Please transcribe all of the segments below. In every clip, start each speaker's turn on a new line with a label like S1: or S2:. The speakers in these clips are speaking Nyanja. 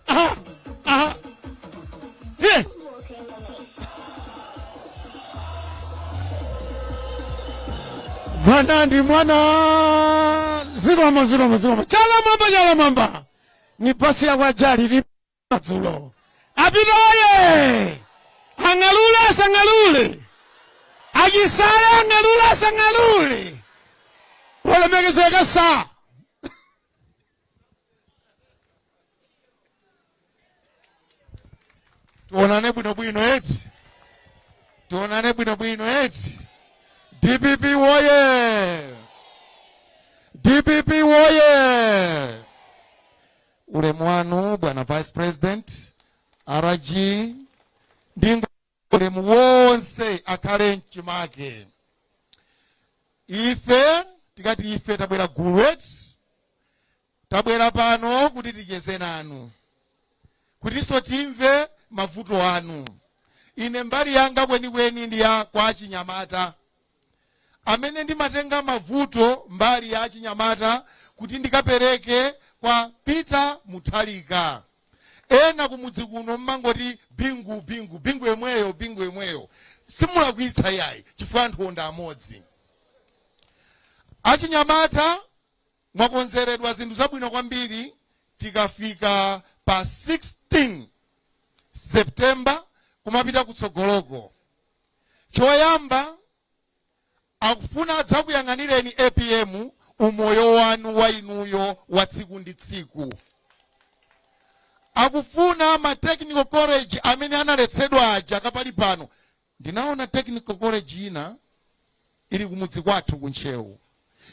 S1: Aha, aha. Here. Mwana ndi mwana. Zikomo zikomo zikomo. Chala m'mwamba chala m'mwamba. Ni pasi ya kwajali ni madzulo. A Peter woye. Angalule asangalule. Ajisala angalule asangalule. Olemekezeka saa. tionane bwinobwino eti tionane bwinobwino eti dpp woye dpp woye ulemu wanu bwana vice president rg ndingo ulemu wonse akhale mchimake ife tikati ife tabwera gulu eti tabwera pano kuti ticheze nanu kutinso timve mavuto anu ine mbali yanga kwenikweni ndi ya kwa achinyamata amene ndimatenga mavuto mbali ya achinyamata kuti ndikapereke kwa Peter Mutharika. Ena kumudzi kuno mmangoti bingu bingu bingu yemweyo bingu yemweyo simulakwitsa yayi chifukwa anthuwo ndi amodzi. Achinyamata mwakonzeredwa zinthu zabwino kwambiri tikafika pa 16 September kumapita kutsogoloko. choyamba akufuna adzakuyang'anireni apm umoyo wanu wa inuyo wa tsiku ndi tsiku akufuna ma technical college amene analetsedwa aja kapali pano ndinaona technical college ina ili kumudzi kwathu ku ntcheu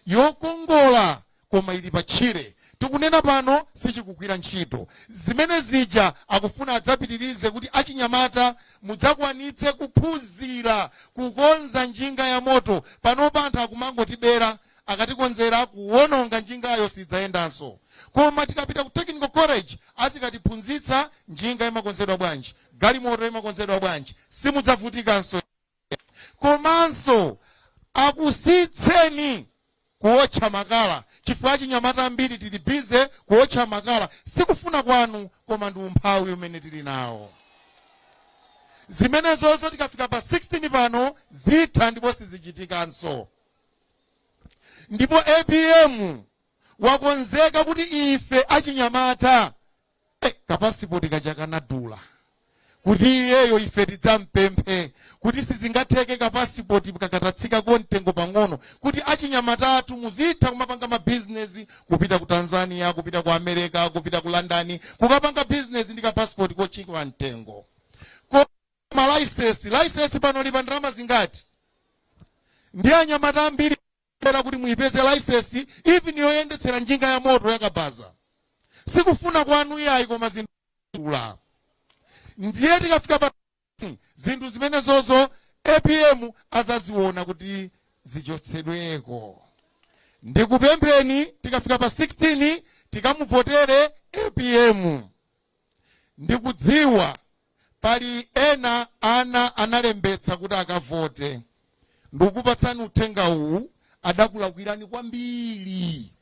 S1: yokongola koma ili pa tchire tikunena pano sichikugwira ntchito zimene zija akufuna adzapitirize kuti achinyamata mudzakwanitse kuphunzira kukonza njinga ya moto panopa anthu akumangotibera akatikonzera kuwononga njingayo sidzayendanso koma tikapita ku technical college azikatiphunzitsa njinga imakonzedwa bwanji galimoto imakonzedwa bwanji simudzavutikanso komanso akusiyitseni kuwotcha makala chifukwa achinyamata ambiri tili bize kuwotcha makala sikufuna kwanu koma ndi umphawi umene tili nawo zimenezonso tikafika pa 16 pano zitha ndipo sizichitikanso ndipo apm wakonzeka kuti ife achinyamata Eh, kapasipoti kaja kanadula kuti iyeyo ife tidzampemphe kuti sizingatheke kapasipoti kakatatsika ko mtengo pang'ono kuti achinyamata athu muzitha kumapanga mabizinesi kupita ku tanzania kupita ku america kupita ku london kukapanga bizinesi ndi kapasipoti kochipa mtengo Ko- malaisesi laisesi pano ilipa ndalama zingati ndi anyamata ambiri kuti muipeze laisesi even yoyendetsera njinga ya moto yakabaza sikufuna kwanu iyayi koma zidula ndiye tikafika pa zinthu zimenezozo apm adzaziona kuti zichotsedweko ndikupempheni tikafika pa 16 tikamuvotere apm ndikudziwa Pali ena ana analembetsa kuti akavote. Ndikukupatsani uthenga uwu, adakulakwirani kwambiri.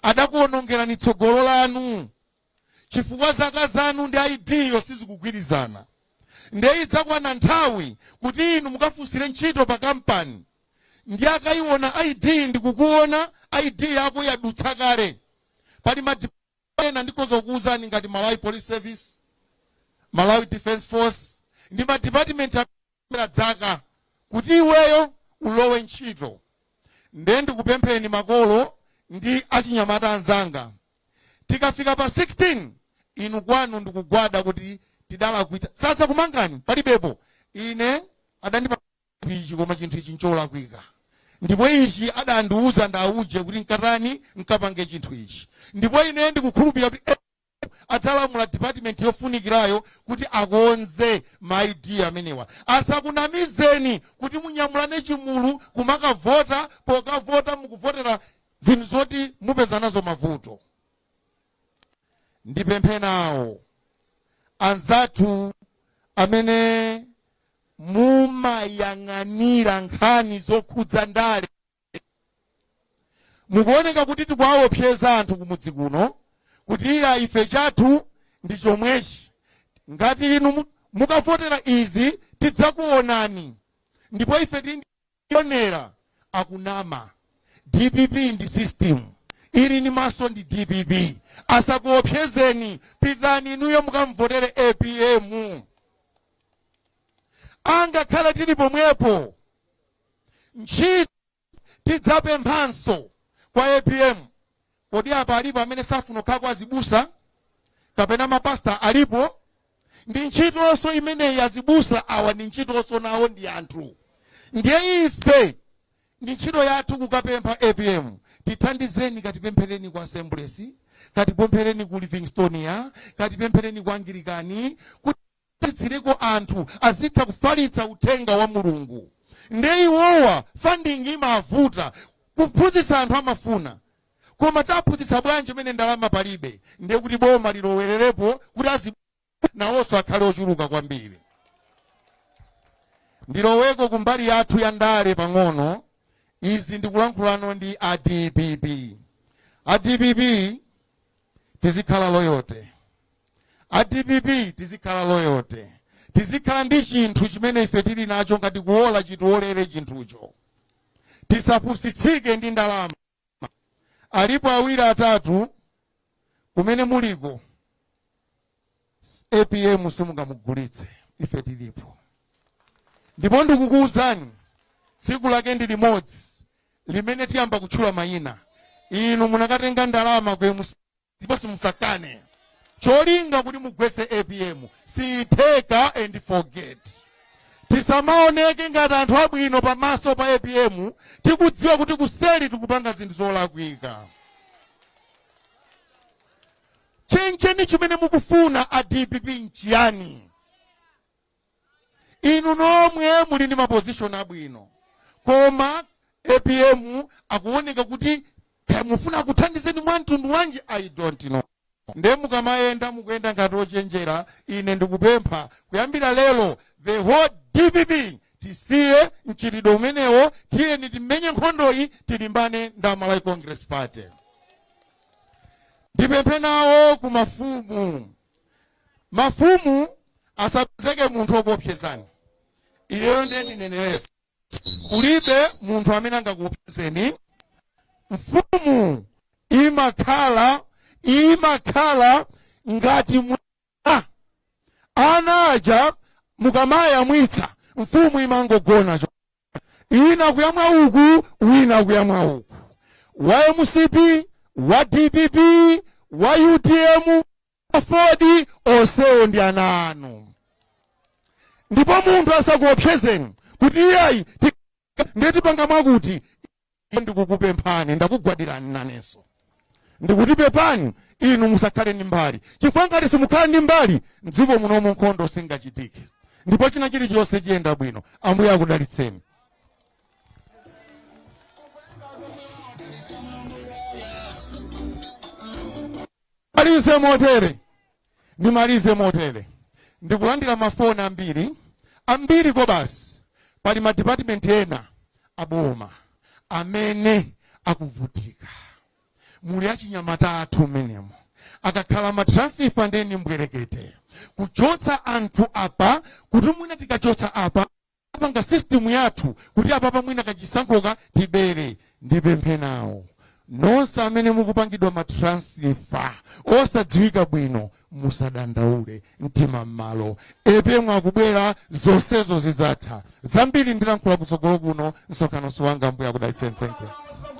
S1: Adakuonongerani tsogolo lanu chifukwa zaka zanu ndi ID yo sizikugwirizana. Nde idzakwana nthawi kuti inu mukafunsire ntchito pa kampani ndi akaiona ID ndikukuona ID yako yadutsa kale. Pali ma ena ndikhoza kukuwuzani ngati malawi police service malawi defense force ndi madipatimenti amaona dzaka kuti iweyo ulowe ntchito nde ndikupempheni makolo ndi achinyamata anzanga tikafika pa 16 inu kwanu ndikugwada kuti tidalakwitsa sadzakumangani palibepo ine adandipa ichi koma chinthu ichi ncholakwika ndipo ichi adandiuza ndauje kuti nkatani nkapange chinthu ichi ndipo ine ndikukhulupirira kuti adzalamula department yofunikirayo kuti akonze ma id amenewa asakunamizeni kuti munyamulane chigulu kumakavota pokavota mukuvotera zinthu zoti mupeza nazo mavuto ndipemphe nawo anzathu amene mumayang'anira nkhani zokhudza ndale mukuoneka kuti tikuwawopseza anthu kumudzi kuno kuti iya ife chathu ndi chomwechi ngati inu mu- mukavotera izi tidzakuonani ndipo ife ti Onera akunama dpp ndi system ili ndi maso ndi dpp asakuopsezeni pitani inuyo mukamvotere apm angakhala tili pomwepo ntchito tidzapemphanso kwa apm Kodi apa alipo amene safuna kukhala azibusa kapena mapasta alipo? Ndi ntchitonso imeneyi azibusa awa ndi ntchitonso nawo ndi anthu. Ndiye ife ndi ntchito yathu kukapempha APM tithandizeni katipemphereni kwa Assemblies, katipemphereni ku Livingstonia, katipemphereni kwa Anglikani kuti kuti titsireko anthu azitha kufalitsa uthenga wa Mulungu nde iwowa funding imavuta kuphunzitsa anthu amafuna koma taphunzitsa bwanji mmene ndalama palibe nde kuti boma lilowererepo kuti azi nawonso akhale ochuluka kwambiri ndiloweko kumbali yathu ya ndale pang'ono izi ndikulankhulano ndi a dpp a dpp tizikhala loyalty a dpp tizikhala loyalty tizikhala ndi chinthu chimene ife tili nacho ngati kuwola chitiwolere chinthucho tisapusitsike ndi ndalama alipo awiri atatu kumene muliko apm simungamugulitse ife tilipo ndipo ndikukuwuzani tsiku lake ndi limodzi limene tiyamba kutchula mayina inu munakatenga ndalama ku mcp ndipo musakane cholinga kuti mugwetse apm sizitheka and forget tisamaoneke ngati anthu abwino pamaso pa apm tikudziwa kuti kuseli tikupanga zinthu zolakwika chencheni chimene mukufuna a dpp nchiyani inu nomwe muli ndi mapozishoni abwino koma apm akuoneka kuti kaya mufuna akuthandizeni mwa mtundu wanji i don't know nde mukamayenda mukuyenda ngati ochenjera ine ndikupempha kuyambira lero the whole dpp tisiye mchitidwe umenewo tiyeni timenye nkhondoyi tilimbane ndi a malawi congress party ndipemphe nawo ku mafumu mafumu asapezeke munthu okuopsezani iyeyo ndiye ndineneretu kulibe munthu amene angakuopsezeni mfumu imakhala imakhala ngati mwana ana aja mukamayamwitsa mfumu imangogona cho wina kuyamwa uku wina kuyamwa uku wa mcp wa dpp wa utm Aford onsewo ndi ana anu ndipo munthu asakuopsezeni kuti iyayi ti- ndiye tipanga mwakuti ndikukupemphani ndakugwadirani nanenso ndikuti pepani inu musakhale ndi mbali chifukwa ngati simukhala ndi mbali mdziko munomu nkhondo singachitike ndipo china chilichonse chiyenda bwino ambuye akudalitseni Ndimalize motere, ndimalize motere. Ndikulandira mafoni ambiri, ambiri kwabasi. Pali ma department ena aboma amene akuvutika. Muli achinyamata athu mmenemo. Akakhala ma transfer nde ndi mbwerekete. Kuchotsa anthu apa, kuti mwina tikachotsa apa, apanga system yathu kuti apapa mwina kachisankhoka tibere ndipemphe nawo nonse amene mukupangidwa matransfer osadziwika bwino musadandaule mtima m'malo apm akubwera zonsezo zidzatha zambiri ndilankhula kutsogolo kuno msonkhano wanga ambuye akudalitseni thank you